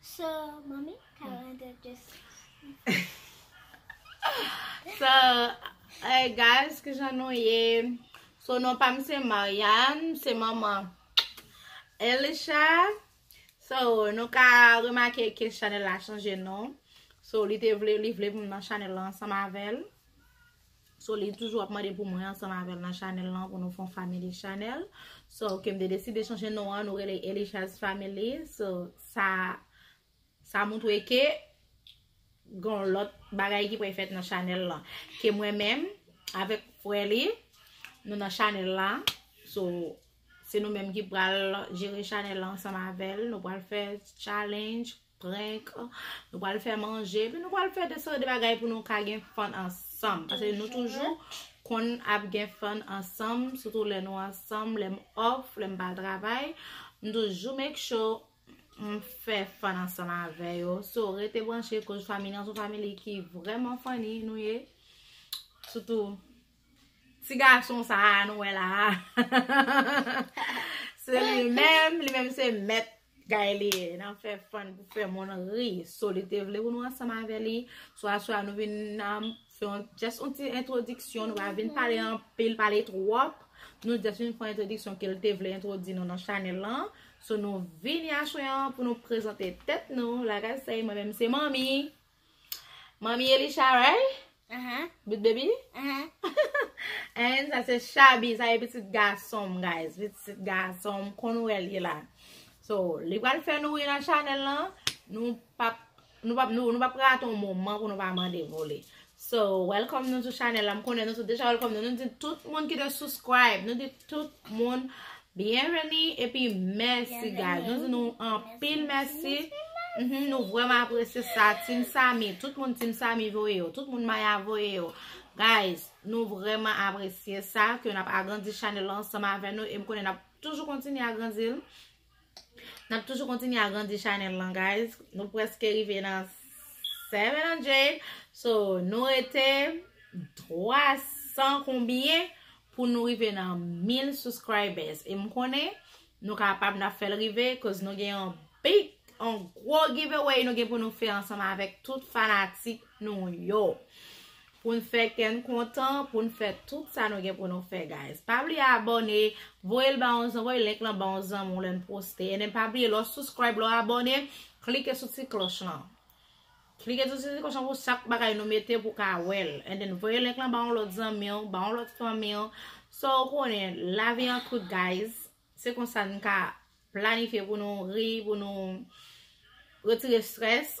So mommy calendar just So Hey guys kijan nou ye So non pa m se Marianne m se manman Elisha So nou ka remake ke chanel la chanje non So li te vle li vle pou m nan chanel la ansanm avèl. So li toujou ap mande pou mwen ansanm avèl nan chanèl lan pou nou fon family chanèl. So ke m te deside chanje non an nou rele Elishaz family. So sa sa moutwe ke gon lòt bagay ki pre fèt nan chanèl lan. Ke mwen menm avèk frè li nou nan chanèl la. So se nou menm ki pral jere chanèl lan ansanm avèl. Nou pral fè challenge. prank nou pral fè manje epi nou pral fè de sòt de bagay pou nou ka gen fun ansanm pase nou toujou konn ap gen fun ansanm soutou lè nou ansanm lè m off lè m pa al travay m toujou make sure m fè fun ansanm avè yo so rete branche koz family an son family ki vrèman funny nou ye soutou Ti gason sa a nou wè la a. Se li menm, li menm se mèt. Gay li e, nan fè fon pou fè moun ri. So li te vle pou nou ansanm avè li. So aswa nou vin nan, fè yon, jès yon ti entwodiksyon. Nou va vin pale anpil, pale twòp. Nou jès vin fè entwodiksyon ke li te vle entwodi nou nan chanèl lan. So nou vini aswa pou nou prezante tèt nou. Lagay se, mwen menm se manmi. Manmi Elisha right? Aha. But baby? Aha. And sa se Shabi, sa e pitit gason m guys. Pitit gason m kon nou el ye la. So, li pral fè nou e nan chanel lan, nou pap nou pap nou pap raton moman pou nou pa mande vole. So, welcome nou sou chanel la. M konnen nou sou deja welcome nou. Nou di tout moun ki te subscribe, nou di Tout moun byenveni epi mèsi guys. Nou di nou anpil mèsi. Nou vreman apresye sa. Team Samy. Tout moun Team Samy voye yo. Tout moun Maya voye yo. Guys. Nou vreman apresye sa. Ke nap agrandi chanel ansanm avè nou. E m konnen nap toujou kontinye agrandi l. Nap toujou kontinye agrandi chanel lan guys. Nou preske rive nan 700. So nou rete 300 konbyen pou nou rive nan 1000 subscribers. E m konnen nou kapab nap fel rive. Koz nou gen yon big, yon gwo giveaway nou gen pou nou fe ansanm avek tout fanatik nou yo. Pou n fè kè n kontan, pou n fè tout sa nou gen pou nou fè guys. Pa bliye abòne, voye l ba yon zan, voye link lan ba yon zanmi w lè n poste. And then pa bliye lè w subscribe, lè w abòne, klike sou ti klòch lan. Klike sou ti klòch lan pou chak bagay nou mete pou w ka wè l. And then voye link lan ba yon lòt zanmi w, ba yon lòt fanmi w. So ou konnen, lavi an kout guys. Se konsa n ka planifye pou nou ri, pou nou retire stress.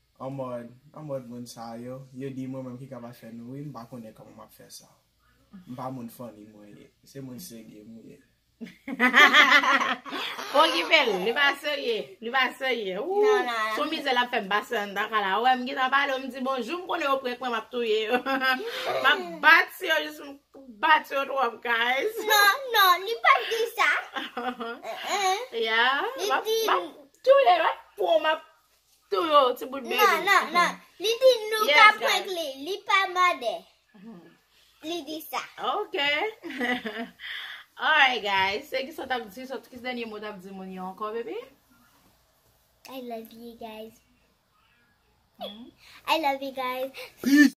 En mode en mode moun sa yo yo di mwen menm ki kapab fè nou ri m pa konnen kòman map fè sa m pa moun funny mwen ye se moun serye m ye. Fon ki fè ri li pa serye li pa serye ooh son mizè lap fè m pase anndan kay la wè m gentan pale yo m di bonjou m konnen yo prank mwen map touye yo map bat si yo jis m bat yo twòp guys non non li pat di sa yeah map touye yo ak pon map Tou yo, ti bout baby. Non, non, non. Li di nou ka prank li. Li pa mande. Li di sa. Ok. Alright guys. Se ki sa tap di. Sa ki se denye mou tap di moun yo anko baby? I love you guys. I love you guys.